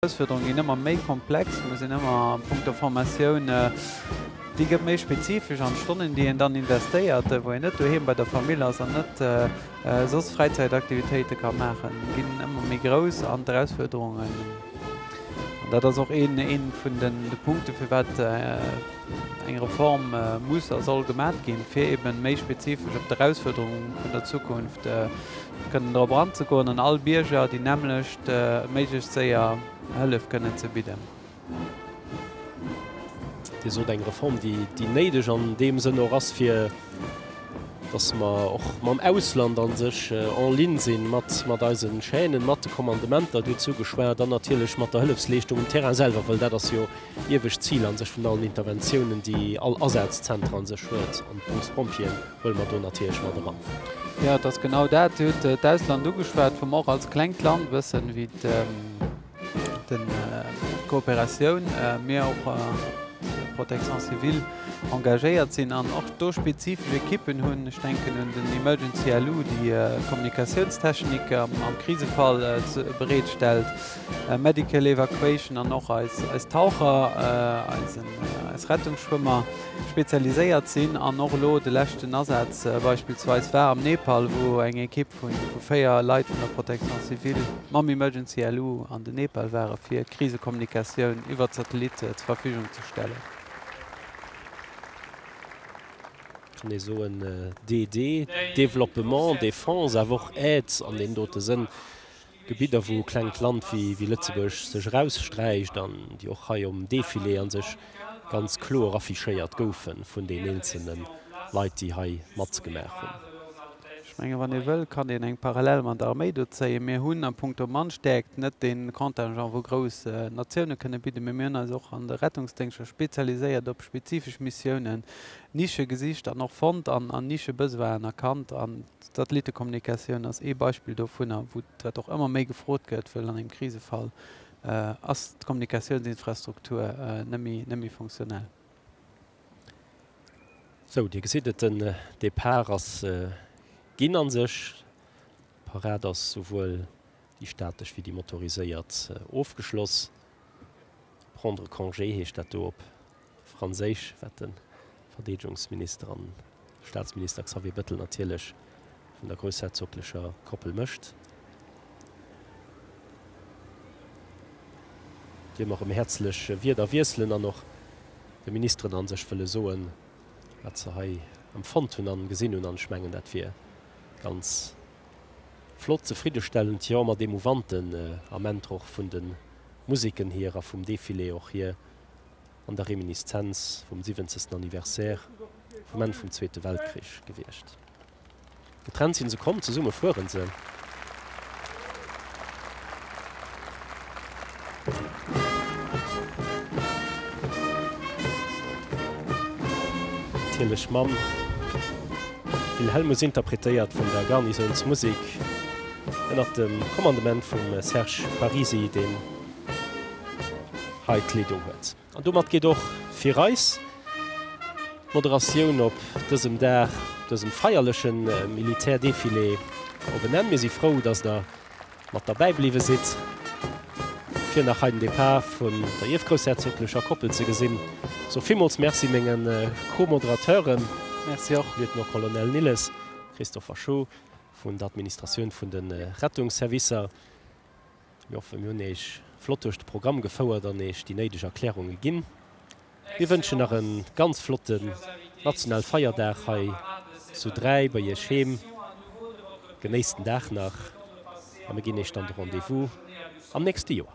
D'Erausfuerderunge ginn ëmmer méi komplex, mir sinn ëmmer a punkto Formatioun, déi gëtt méi spezifesch, an d'Stonnen, déi een dann investéiert, wou een net doheem bei der Famill ass an net soss Fräizäitaktivitéite ka maachen, ginn ëmmer méi grouss. An d'Erausfuerderungen, an dat ass och ee vun de Punkte firwat eng Reform muss a soll gemat ginn, fir eeben méi spezifesch op d'Erausfuerderunge vun der Zukunft kënnen drop anzegoen an all Bierger déi nämmlecht méiglechst séier Hëllef kënnen ze bidden. Dir sot, eng Reform, déi néideg an deem Sënn och ass, fir dass mer och mam Ausland a sech en ligne sinn, mat eise Chaînen, mat de Commandementer, duerzu geschwat, an natierlech mat der Hëllefsleeschtung um Terrain selwer, well dat ass jo, Iewescht Zil a sech vun allen Interventiounen, déi all Asazzentre a sech huet, an d'Berufspompjeeën huele mer do natierlech mat eran. Jo, et ass genau dat. Dir hutt d'Ausland ugeschwat, wou mer och als klengt Land wëssen, wéi d'Kooperatioun, mee och d'Protection civile engagéiert sinn an och do spezifesch Ekippen hunn. Ech denken un den Emergency LU, dee Kommunikatiounstechniker am Krisefall bereet stellt. Medical Evacuation an och eis Taucher, eis Rettungsschwëmmer spezialiséiert sinn. An och elo de leschten Asaz beispillsweis war am Nepal, wou eng Ekipp vu véier Leit vun der Protection civile mam Emergency LU an den Nepal ware fir Krisekommunikatioun iwwert Satellit zur Verfügung ze stellen. Mir soen DD, Développement, Défense, awer och Aide an deem dote Sënn. Gebidder wou e klengt Land wéi Lëtzebuerg sech eraussträicht an déi och hei um Defilé a sech ganz kloer affichéiert goufe vun den eenzelne Leit déi hei matzgemaach hunn. Ech menge wann ee wëll kann een eng Parallel mat der Arméi do zéien. Mir hunn a Punkto Mannstäerkt net dee Contingent wou grouss Natioune kënne bidden, mee mir hunn eis och an de Rettungsdéngschter spezialiséiert op spezifesch Missiounen, Nische gesicht an och fonnt an Nische-Besoinen erkannt an. D'Satellittekommunikatioun ass ee Beispill dovunner, wou dat och ëmmer méi gefrot gëtt, wëll an engem Krisefall ass d'Kommunikatiounsinfrastruktur net méi funktionell. Sou, Dir gesitt et, den Depart ass ginn a sech. D'Parad ass, souwuel déi statesch wéi déi motoriséiert, ofgeschloss. Prendre congé heescht dat do op Franséisch, wat de Verdeedegungsminister an Staatsminister Xavier Bettel natierlech vun der groussherzoglecher Koppel mécht. Deem erëm häerzlech Wierder wiesselen an och de Ministeren an sech wëlle soen, wat se hei empfonnt hunn an gesinn hunn. An ech mengen, dat wier ganz flott, zefriddestellend, jo, mat eemouvanten Ament och vun de Musiken hier a vum Defilé och hier, an der Reminiszenz vum siwwenzesten Anniversaire vum Enn vum Zweete Weltkrich gewiescht. Getrennt sinn se, komm, zesumme fueren se. Natierlech mam Wilhelmus interpretéiert vun der Garnisounsmusek ënnert dem Kommandement vum Serge Parisi, deen. hei d'Klee do huet. An domat geet och fir eis d'Moderatioun op dësem Dag, dësem feierleche Militärdefilé op en Enn. Mir si frou, dass der mat derbäi bliwwe sidd, fir nach hei den Depart vun der ierfgroussherzoglecher Koppel ze gesinn. Soe villmools Merci menge Co-Moderateuren, Lieutenant-Colonel Nilles, Christopher Schuh vun der Administratioun vun de Rettungsservicer. Mir hoffen, mir hunn Iech flott duerch de Programm gefouert an Iech déi néideg Erklärunge ginn. Mir wënschen nach e ganz flotten nationale Feierdag hei zu Dräi bei Iech heem. Genéisst den Dag nach a mir ginn Iech dann de Rendez-vous am nächste Joer.